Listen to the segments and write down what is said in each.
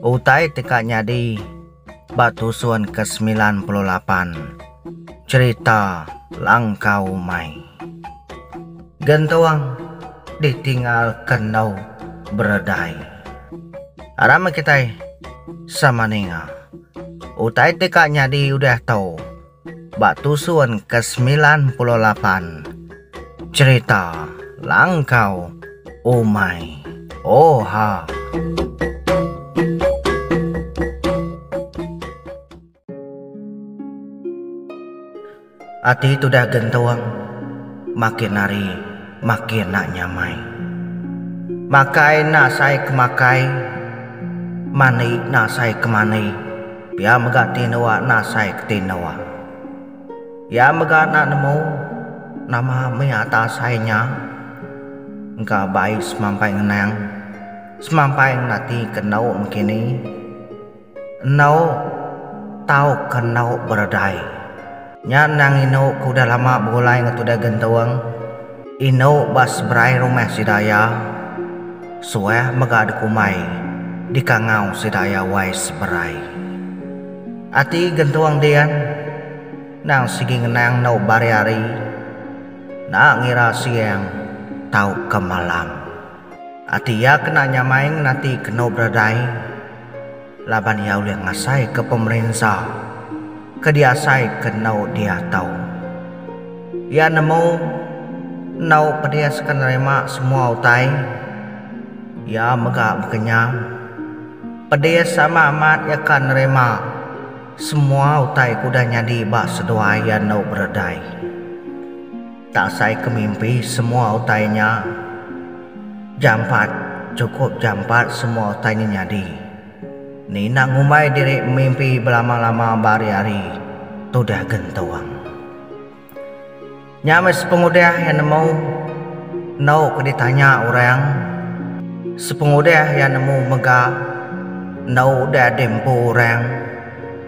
Utai ti ka nyadi ba tusun ke semilan puluh lapan cherita Langkau Mai. Gentung ditinggal ke endu beredai. Aram meh kitai sama ninga. Utai ti ka nyadi udah tu. ba tusun ke semilan puluh lapan. Cherita Langkau Umai Oha. Ati tudah gentung makin hari makin enda nyamai. Makai enda sai ke makai, mani enda sai ke mani. Pia mega ti endur enda asai ke ti endur. Iya mega enda nemu nama mih ata asai nya engka bai semampai ngenang semampai ngena ati ke endur mekini. Endur tauka endur beredai. Nya endang indu ke udah lama begulai enggau Tudah Gentung. Indu ba seberai rumah sida iya. Suah mega dikumbai dikangau sida iya wai seberai. Ati Gentung din endang sigi ngenang endu ba hari-hari enda ngira siang tauka malam. Ati iya kena nyamai ngenati kenu beredai. laban iya ulih ngasaika pemerinsa ke diasaika enggau diatau. Iya nemu enggau pedis ke nerima semua utai. Iya mega bekenyang pedis sama amat iya ka nerima semua utai ke udah nyadi ba seduai iya enggau Berdai. Tak asai ke mimpi semua utai nya jampat, chukup jampat semua utai nya nyadi. Ni enda ngumbai diri mimpi belama-lama ba hari-hari tudah gentung. Nya meh sepengudah iya nemu endo ke ditanya orang, sepengudah iya nemu mega endo udah diempu orang,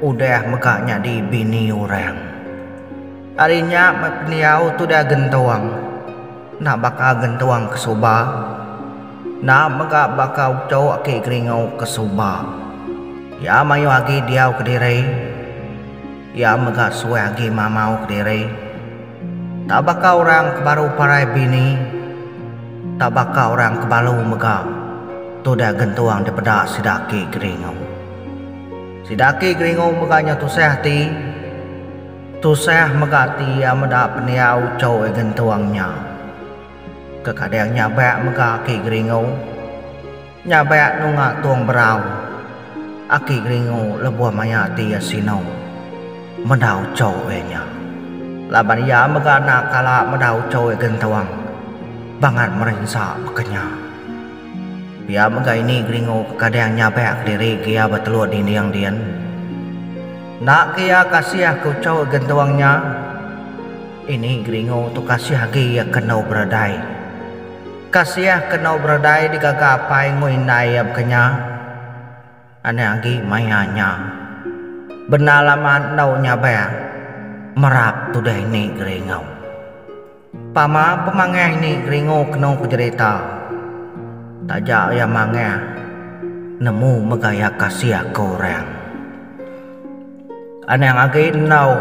udah mega nyadi bini orang. Ari nya meh pendiau tudah gentuang enda baka gentuang ke suba, enda mega baka uchok aki geringu ke suba. Iya mayuh agi diau kediri, iya mega suah agi mamau kediri. Enda baka orang ke baru parai bini, enda baka orang ke balu mega tudah gentuang dipeda sida aki geringu. Sida aki geringu mega nyau tusah ati. Tusah mega ati iya meda pendiau Choi Gentung nya. Kekadang nya ba mega aki Geringu. Nya ba nunga Tung Berau. Aki Geringu lebuh maya ati iya sinu. Medau Choi nya. Laban iya mega enda kala medau Choi Gentung. Bangat merinsa baka nya. Pia mega ini Gringo ke kadang nyabak kediri ke iya beteluk dinding din. Enda ke iya kasih ke uchu gentung nya. Ini Gringo tu kasih agi iya ke endu beredai. Kasih ke endu beredai digaga apai enggau indai iya baka nya. Anak agi maya nya. Bendar lama endu nyabak. Merap tudah ini Gringo. Pama pemangah ini keringu kenu ku jerita. Taja iya mangah nemu mega iya kasih aku orang. Anang agi endu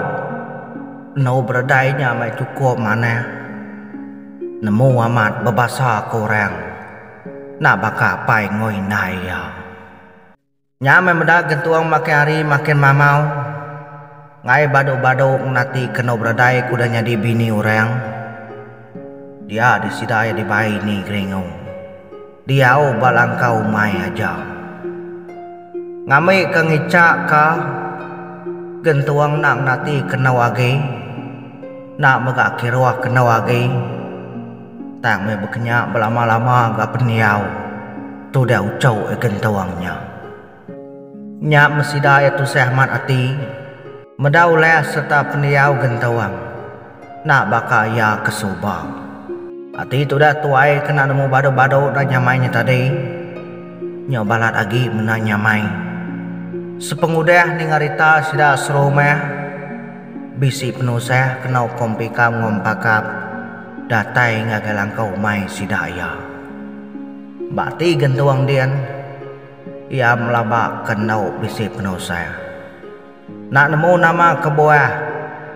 endu beredai nya meh chukup manah nemu amat bebasa ke orang enda baka apai enggau indai iya. Nya meh meda gentung makin hari makin mamau. Ngaie badu-badu ngenati kenu beredai ku udah nyadi bini orang. Dia di sida iya dibai ini geringu. Diau ba langkau umai aja. Ngambi ke ngica ka gentung enda ngenati kenu agi. Enda mega kiruh kenu agi. Tang meh bekenya belama-lama ga pendiau tu deh uchu e gentung nya. Nya meh sida e tusah amat ati meda ulah sereta pendiau gentung enda baka iya ke suba. Ati tu deh tuai kena nemu badu-badu enda nyamai nya tadi. Nya balat agi menda nyamai. Sepengudah ninga rita sida serumah bisi penusah kena ukum pika enggau empakap. Datai ngagai langkau umai sida iya. Ba ati gentung din, iya melabaka enggau bisi penusah. Enda nemu nama kebuah,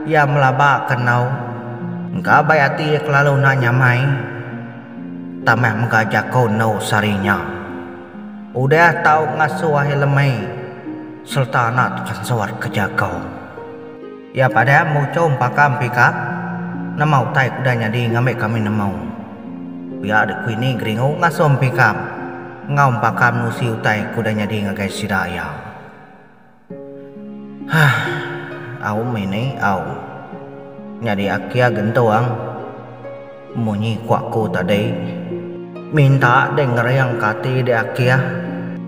iya melabaka enggau engka bai ati iya kelalu enda nyamai tang meh mega jaku endu sehari nya. Udah tau ngasuh ahi lemai sereta enda tepansut ke jaku. Iya padah mbuchau empaka empika, Nama utai ku udah nyadi ngambi kami nemu? Pia dek ku ini Geringu ngasuh empika enggau empaka menusi utai ku udah nyadi ngagai sida iya. Hah. Aum ini aum. Nyadi akia gentung. Munyi ku aku tadi. Minta dek ngering ka ati dek akia.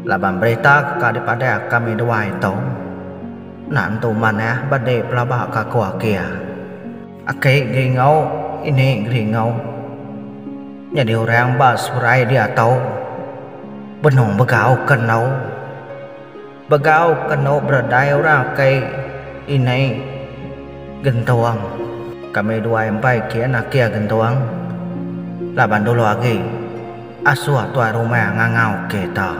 Laban berita ka dipadah kami duai tu. Enda entu manah ba dek pelaba ka ko akia. Aki geringau ini geringau. Nyadi orang ba seberai diatau. Benung begau ke endo. Begau ke endo beredai orang aki ini gentung. Kami duai empai kin akia gentung. Laban dulu agi asuh tuai rumah ngangau kita.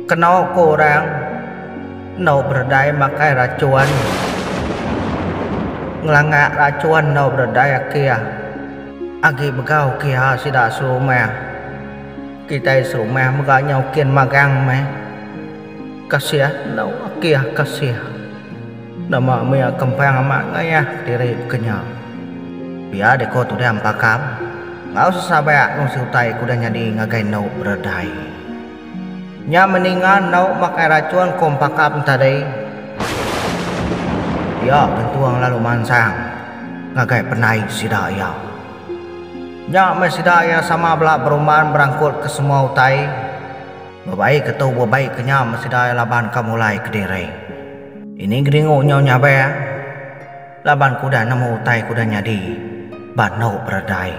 Keno ko orang endo beredai makai rachun ngelangak rachun endo beredai akih agi begau kiha sida serumah kitai serumah mega nyau kin magang meh kasih endo akih kasih nama mia kempang amat ngayah kediri kenya pia deh ko tudang pakam enggau sesabak nusui utai ko udah nyadi ngagai endo beredai. Nya meninga endauk makai racun ko empakap entadai. Pia gentung lalu mansang ngagai penai sida iya. Nya meh sida iya sama bela berumban berangkut ke semua utai. Bebai ke tu bebai ke nya meh sida iya laban ka mulai kediri. Ini Geringu nyau nyabang laban ke udah nemu utai ke udah nyadi ba endauk beredai.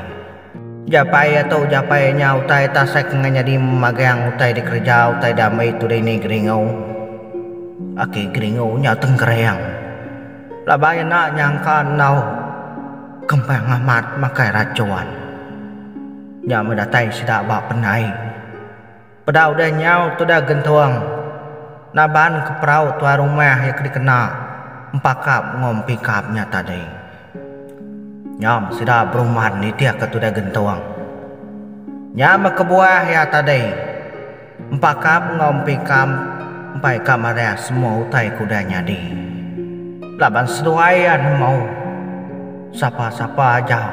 Japai atau ujapai nya utai tasek enggau nyadi magang utai dikereja utai dami tudai ni Geringu. Aki Geringu nya tengkering laban enda nyangka enggau Kempang Amat makai racun. Nya meh datai sida ba pendai. Peda udah nyau tudah gentung naban ke perau tuai rumah iya ke dikena empakap enggau empikap nya tadi. Nyam sida beruman nitihka tudah gentung. Nyam kebuah iya tadi, empakap enggau empikap empai ka marah semua utai ke udah nyadi. Laban seduai iya nemu, sapa-sapa ajau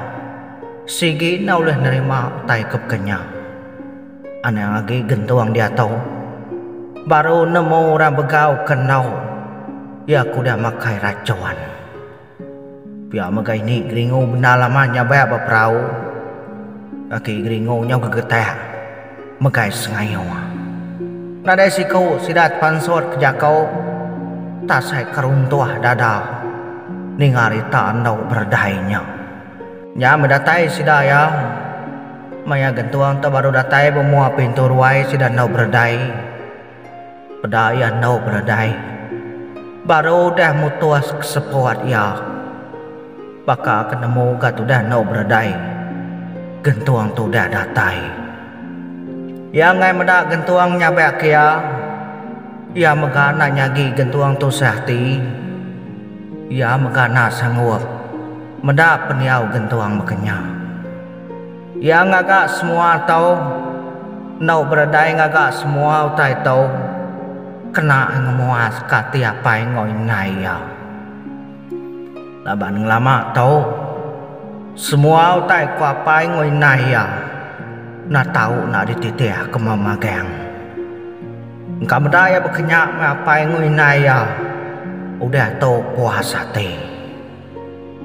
sigi enda ulih nerima utai ke baka nya. Anang agi gentung diatu. Baru nemu orang begau ke endu iya ke udah makai rachun. Pia mega ini Geringu bendar lama nyabak ba perau. Laki Geringu nyau gegetak megai sengayuh. Nadai siku sida tepansut ke jaku tasai ke runtuh dada ninga rita endu beredai nya. Nya bedatai sida iya. Maya gentung tu baru datai bemua pintu ruai sida endu beredai. Peda iya endu beredai. Baru udah mutus ke seput iya. Baka ke nemu ga tudah endu beredai. Gentung tu udah datai. Iya enggai meda gentung nyabek ke iya. Iya mega enda nyagi gentung tu seahti. Iya mega enda sanggup meda pendiau gentung baka nya. Iya ngaga semua tau enggau beredai ngaga semua utai tu kena ngemuaska ati apai enggau indai iya. Laban ngelama tu, semua utai ku apai enggau indai iya enda tau enda dititihka magang. Engka meda iya bekenya meh apai enggau indai iya udah tu puas ati.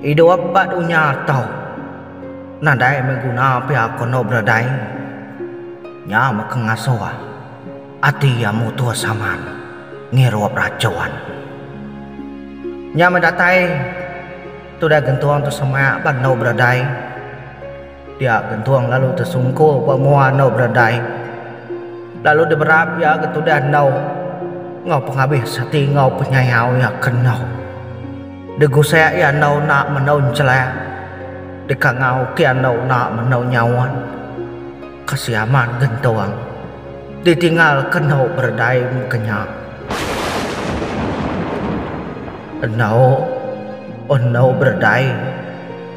Idup ba dunya tu nadai meh guna pia ko endo beradai. Nya meh ke ngasuh ati iya mutus amat ngirup rachun. Nya meh datai tudah gentung tu semak ba endo beradai. Pia gentung lalu tesungkur ba mua endur beredai lalu diberap iya ke tudah endur enggau pengabis ati enggau penyayau iya ke endur. Digusek iya endur enda mendur enchelah, dikangau ke iya endur enda mendur nyaut. Kasih amat gentung ditinggal ke endur beredai mega nya. Endur, endur beredai.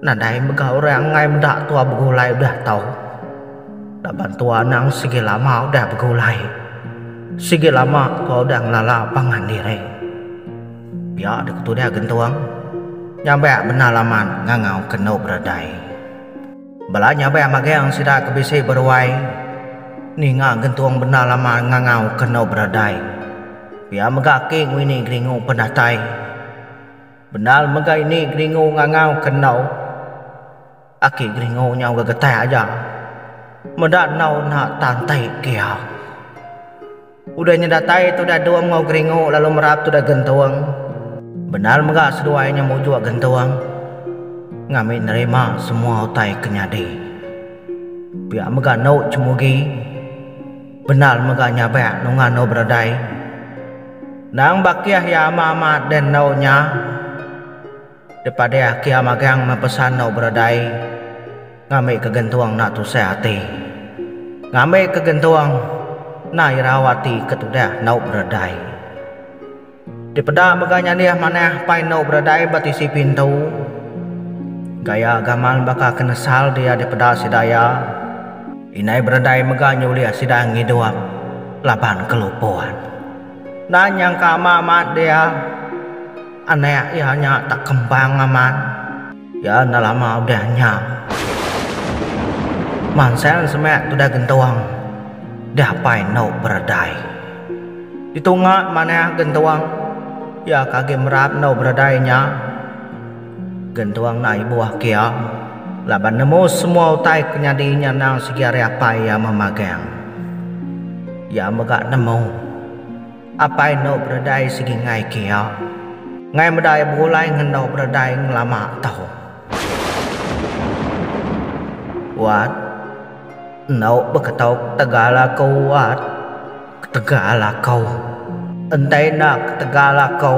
Nadai mega orang enggai meda tua begulai udah tau. Laban tua anang sigi lama udah begulai. Sigi lama tua udah ngelala pangan diri. Pia deka tudah gentung nyabak bendar laman ngangau kendu beredai. Bala nyabak magang sida ke bisi beruai ninga gentung bendar laman ngangau kendu beredai. Pia mega aki ngwini geringu pendatai. Bendar mega ini geringu ngangau ke enau. Aki geringu nyau ga getah aja. Meda enau enda tan tai kia. Udah nya datai tudah dung enggau geringu lalu merap tudah gentung. Bendar mega seduai nya mujuk gentung ngambi nerima semua utai ke nyadi. Pia mega enu Chemugi. Bendar mega nyabak nunga endu beredai. Endang bakih iya amat-amat deh endu nya. Dipadah kia magang meh pesan endu beredai ngambika gentung enda tusah ati. Ngambika gentung enda irau ati ke tudah endu beredai. Dipeda mega nya dih manah pai endo beradai ba tisi pintu. Gaya gamal baka ke nesal dia dipeda sida iya. Indai beradai mega nyulih sida ngidup laban kelupon. Enda nyangka ama amat dia anak iya nya tak kembang amat. Ya enda lama udah nya. Mansel semak tudah gentuang. Dah apai endo beredai. Ditunga manah gentuang. Ya ke agi merap endo beredai nya. Gentuang enda ibuh kia laban nemu semua utai ke nyadi nya endang sigi ari apai iya memagang. Iya mega nemu. Apai endo beredai sigi ngai kia. Ngai medai begulai ngendo beredai ngelama tau. Wat. Endo beketok ketegal aku wat. Ketegal aku. Entai enda ketegal aku.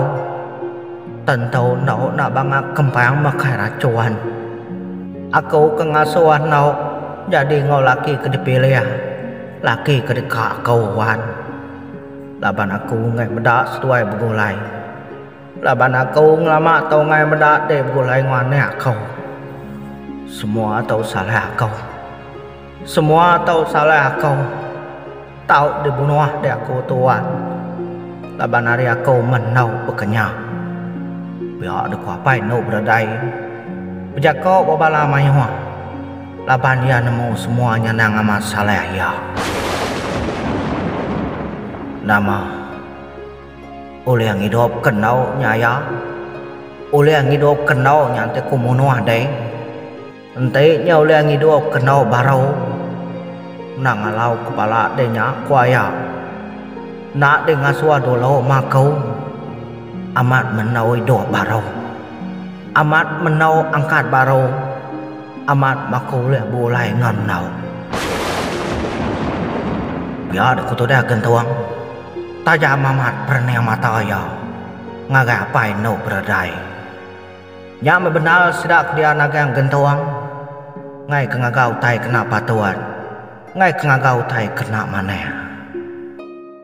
Tentu endo enda banga kempang makai rachuan. Aku ke ngasuh endo nyadi enggau laki ke dipilih. Laki ke deka aku wat. laban aku enggai meda seduai begulai. Laban aku ngelama tau enggai meda deh begulai enggau anak aku. Semua tu salah aku. Semua tu salah aku. Tau dibunuh deh aku tu wan. Laban ari aku menau bekenya. Pia deka apai endu bededai. Bejako ba bala mayuh. Laban iya nemu semua nyenang amat Saleh iya. Nama ulih ngidup ke endu nya iya? Ulih ngidup ke endu nya enti ku munuh deh. Enti nya ulih ngidup ke endu baru endang alau ke bala deh nya ku iya. Enda deh ngasuh dulu ma aku. Amat mendu idup baru. Amat mendu angkat baru. Amat baka ulih beulai enggau endauk. Pia dek ku tudah gentung. Tajam amat perening mata iya ngagai apai endu beredai. Nya meh bendar sida ke dia nagang gentung ngaika ngaga utai kena patut, ngaika ngaga utai kena manah.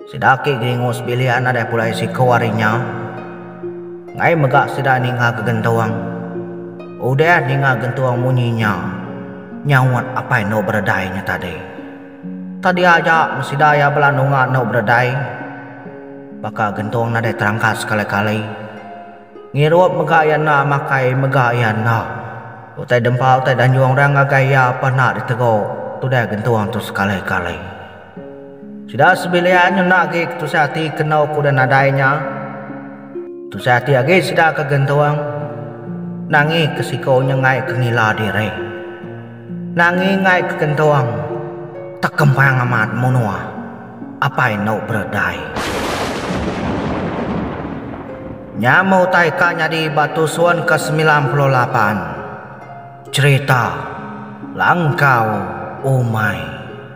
Sida agi ngelingu sebilik nadai pulai siku ari nya. Enggai mega sida ninga ke gentung. Udah ninga gentung munyi nya, nyaut apai endu beredai nya tadi. Tadi aja meh sida iya bela nunga endu beredai. Baka gentung nadai terangkat sekali-kali. Ngirup mega iya enda makai mega iya enda. Utai dempa utai danjung orang ngagai iya apai enda ditegur tudah gentung tu sekali-kali. Sida sebilik nyenda agi ketusah ati ke enggau ke udah nadai nya. Tusah ati agi sida ke gentung, nangi ke siku nya enggai ke ngila diri. Nangi enggai ke gentung, tekempang amat munuh apai endu beredai. Nya meh utai ka nyadi ba tusun ke semilan puluh lapan, cherita Langkau Umai.